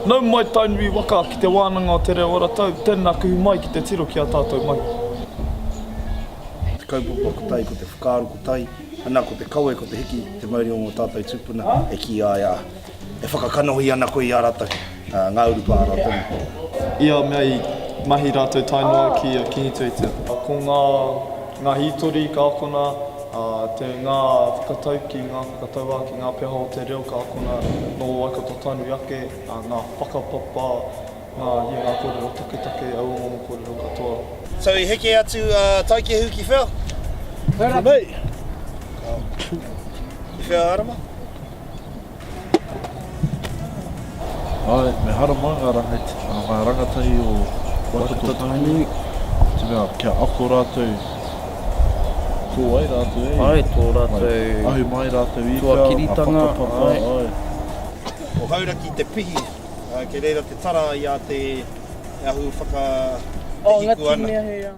Nau mai Tainui waka ki te wānanga o Te Reo Aratau, tēnā kuhu mai ki te tiro ki ā tātou mahi. Te kaupapa ko tai, ko te whakaaro ko tai, ana ko te kawe, ko te hiki, te mauri o ngō tātou tūpuna e kīia ai, ā. E whakakanohi ana koe i a ratou, nga urupā a ratou. I a mea i mahi ratou tae noa ki a Kingi Tueitia. Ko nga, nga hitori ka akona, a, te, nga whakatauki, nga whakatauāki, nga peha o te reo ka akona no Waikato Tainui ake, a, nga whakapapa, nga, ia nga korero taketake, auamomo korero katoa. So i heke atu a Taikehu ki whea? Ko nei. Ko nei. Ko whea a Arama? Ae, me hara mā ngā rangati, ngā rangatahi o Waikato Tainui, te mea kia ako rātou, tō ai rātou, e? Ae, tō rātou... Ahu mai rātou i whea, ngā whakapapa, ae. Ko Hauraki te pihi, kei reira te tara i a te ahu whakahiko ana.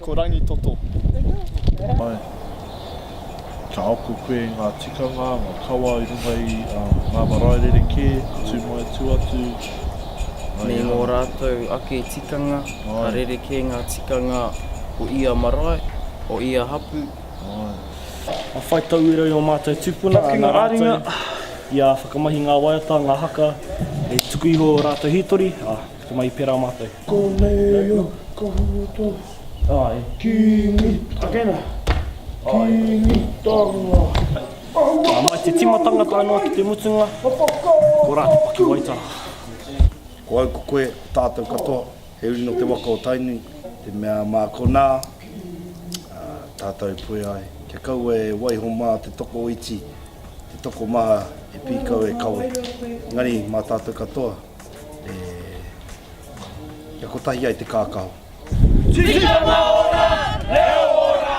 Ko Rangitoto. Mai. Ka ako koe i ngā tikanga, ngā kawa i runga i ngā marae rerekē, tū mai, tū atu. Me ngō rātou ake tikanga, ka rerekē ngā tikanga o ia marae, o ia hapū. Ka whai tauira i ō mātou tūpuna, ana rātou i whakamahi ngā waiata, ngā haka, e tuku iho ō rātou hītori. Ko mai pera matou. Ko nei o koutou. Ae. Kingi tangata. Kingi tangata. Ahua. Mai te tima tangata ano ki te mutunga. Ko ra te pakiwaitara. Ko au ko koe, ko tatou katoa, he uri no te waka o Tainui. Te mea ma kona tatou e poe ai, kia kaua e waiho ma te toko iti, te toko maha e pi kau e kawe. Engari ma tatou katoa. e kia kotahi ai te kākaho. Tikanga ora, reo ora!